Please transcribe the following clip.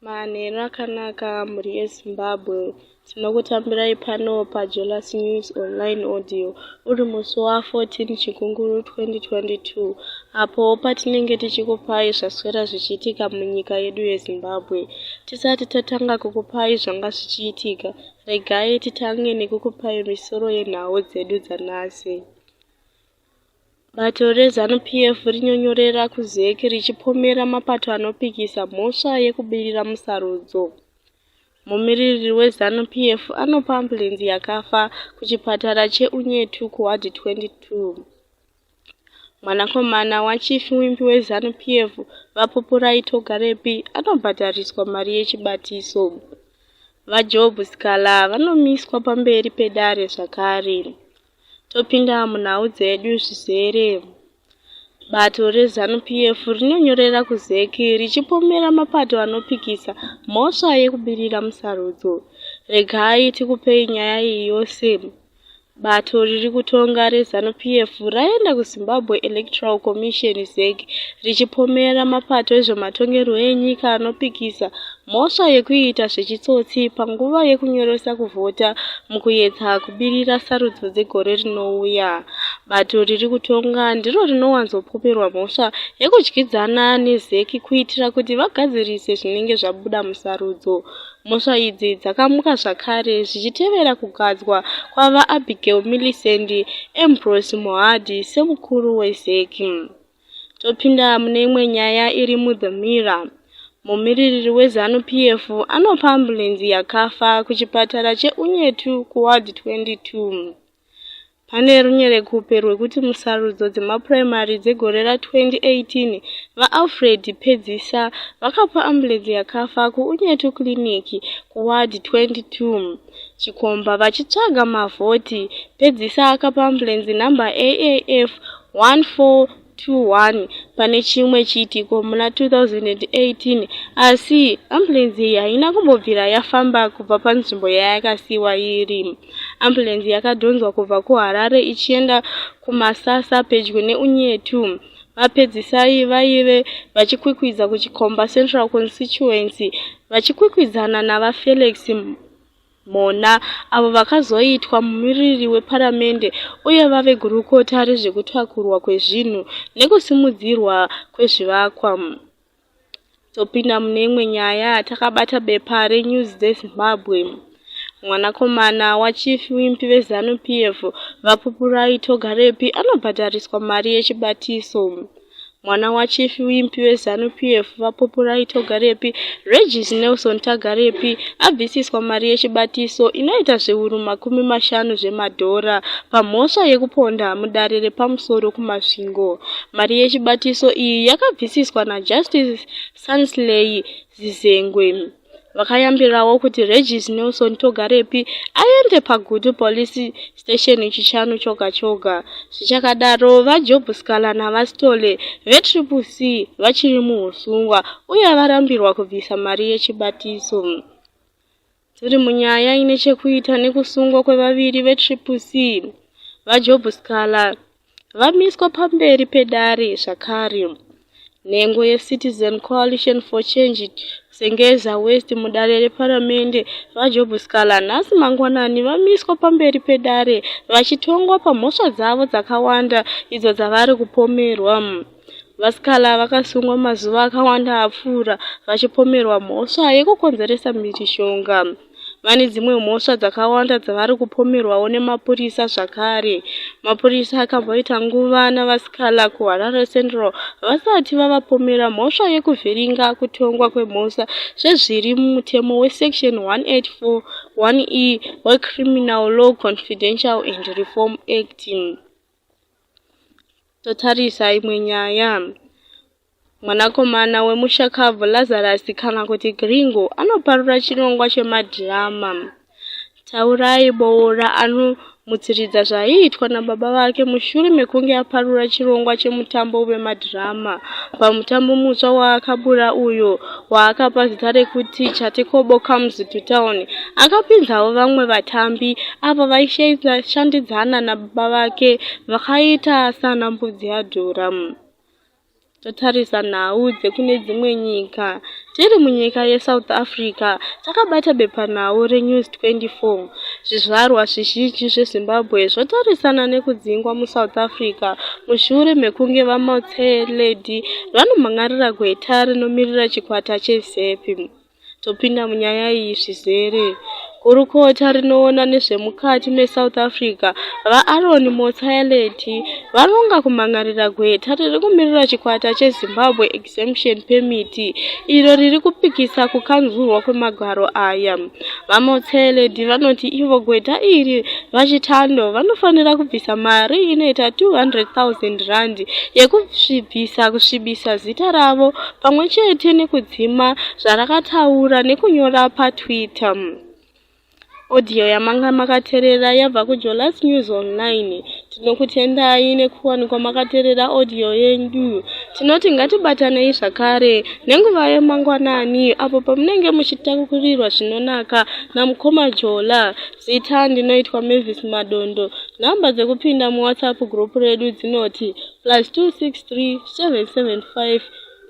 Manheru akanaka mhuri yeZimbabwe. Tinokutambirai pano paJolas News Online Audio uri musi wa14 Chikunguru 2022 apo patinenge tichikupai zvaswera zvichiitika munyika yedu yeZimbabwe. Tisati tatanga kukupai zvanga zvichiitika, regai titange nekukupai misoro yenhau dzedu dzanhasi. Bato reZanu PF rinyonyorera kuZEC richipomera mapato anopikisa mhosva yekubirira musarudzo. Mumiririri weZanu PF anopa ambulenzi yakafa kuchipatara cheUnyetu kuWard 22. Mwanakomana wachief wimbi weZanu PF, VaPupurai Togarepi, anobhadhariswa mari yechibatiso. VaJob Sikhala vanomiswa pamberi pedare zvakare. Topinda munhau dzedu zvizere. Bato reZanu PF rinonyorera kuZEC richipomera mapato anopikisa mhosva yekubudirira musarudzo. Regai tikupei nyaya iyi yose. Bato riri kutonga reZanu PF raenda kuZimbabwe Electoral Commission, ZEC, richipomera mapato ezvematongerwo enyika anopikisa Mhosva yekuita zvechitsotsi panguva yekunyoresa kuvhota mukuyedza kubirira sarudzo dzegore rinouya. Bato riri kutonga ndiro rinowanzopoperwa mhosva yekudyidzana neZec kuitira kuti vagadzirise zvinenge zvabuda musarudzo. Mhosva idzi dzakamuka zvakare zvichitevera kugadzwa kwaVaAbigail Millicent Ambrose Mohadi semukuru weZec. Topinda mune imwe nyaya iri muThe Mirror. Mumiririri weZanu PF anopa ambulenzi yakafa kuchipatara cheUnyetu kuWard 22. Pane runyerekupe rwekuti musarudzo dzemapuraimari dzegore ra2018, VaAlfred Pedzisa vakapa ambulenzi yakafa kuUnyetu Clinic kuWard 22. Chikomba vachitsvaga mavhoti. Pedzisa akapa ambulenzi nhamba AAF 1421 pane chimwe chiitiko muna 2018 asi ambulenzi iyi haina kumbobvira yafamba kubva panzvimbo yayakasiyiwa iri. Ambulenzi yakadhonzwa kubva kuHarare ichienda kuMasasa pedyo neUnyetu. VaPedzisai vaive vachikwikwidza kuChikomba Central Constituency vachikwikwidzana naVaFelix Mhona avo vakazoitwa mumiriri weparamende uye vave gurukota rezvekutakurwa kwezvinhu nekusimudzirwa kwezvivakwa. Topinda mune imwe nyaya takabata bepa reNews dzeZimbabwe. Mwanakomana waChief Wimpi veZanu PF, VaPupurai Togarepi anobhadhariswa mari yechibatiso. Mwana waChief Wimpi veZanu PF, VaPupurai Togarepi, Regis Nelson Tagarepi, abvisiswa mari yechibatiso inoita zviuru makumi mashanu zvemadhora pamhosva yekuponda mudare repamusoro kuMasvingo. Mari yechibatiso iyi yakabvisiswa naJustice Sansley Zizengwe vakayambirawo kuti Regis Nelson Togarepi aende paGutu Police Station Chishanu choga choga. Zvichakadaro, VaJob Scala naVaStole veTriple C vachiri muhusungwa uye varambirwa kubvisa mari yechibatiso. Tiri munyaya ine chekuita nekusungwa kwevaviri veTriple C, VaJob Sikhala, vamiswa pamberi pedare zvakare. Nhengo yeCitizen Coalition for Change Sengeza West mudare reparamende, VaJob Sikhala, nhasi mangwanani vamiswa pamberi pedare vachitongwa pamhosva dzavo dzakawanda idzo dzavari kupomerwa. Vasikana vakasungwa mazuva akawanda apfuura vachipomerwa mhosva yekukonzeresa mhirizhonga. Vane dzimwe mhosva dzakawanda dzavari kupomerwawo nemapurisa zvakare. Mapurisa akamboita nguva navasikana kuHarare Central vasati vavapomera mhosva yekuvhiringa kutongwa kwemhosva sezviri mumutemo weSection 184 1E weCriminal Law Confidential and Reform Act. Totarisa imwe nyaya. Mwanakomana wemushakabvu Lazarus kana kuti Gringo anoparura chirongwa chemadhirama. Taurai Boora anomutsiridza zvaiitwa nababa vake mushure mekunge aparura chirongwa chemutambo wemadhirama pamutambo mutsva waakabura uyo waakapa zita rekuti Chatekobo Comes to Town. Akapinzawo vamwe vatambi avo vaishandidzana na baba vake vakaita sana mbudzi yadhura totarisa nhau dzekune dzimwe nyika tiri munyika yesouth africa takabata bepanhau renews 24 zvizvarwa zvizhinji zvezimbabwe zvotarisana nekudzingwa musouth africa mushure mekunge vamotseledi vanomhan'arira gweta rinomirira chikwata chezepi Topinda munyaya iyi zvizere. Gurukota rinoona nezvemukati meSouth Africa, VaAron Motsoaledi, varonga kumhan'arira gweta riri kumirira chikwata cheZimbabwe Exemption Permit, iro riri kupikisa kukanzurwa kwemagwaro aya. VaMotsoaledi vanoti ivo gweta iri, VaChitando, vanofanira kubvisa mari inoita 200,000 rand yekusvibisa kusvibisa zita ravo pamwe chete nekudzi Chidima zvarakataura nekunyora paTwitter. Audio yamanga makaterera yabva kuJolas News Online. Tinokutendai nekuwanikwa makaterera audio yenyu. Tinoti ngatibatanei zvakare nenguva yemangwanani apo pamunenge muchitakurirwa zvinonaka namukoma Jola. Zita ndinoitwa Mavis Madondo. Nhamba dzekupinda muWhatsApp group redu dzinoti plus 263 775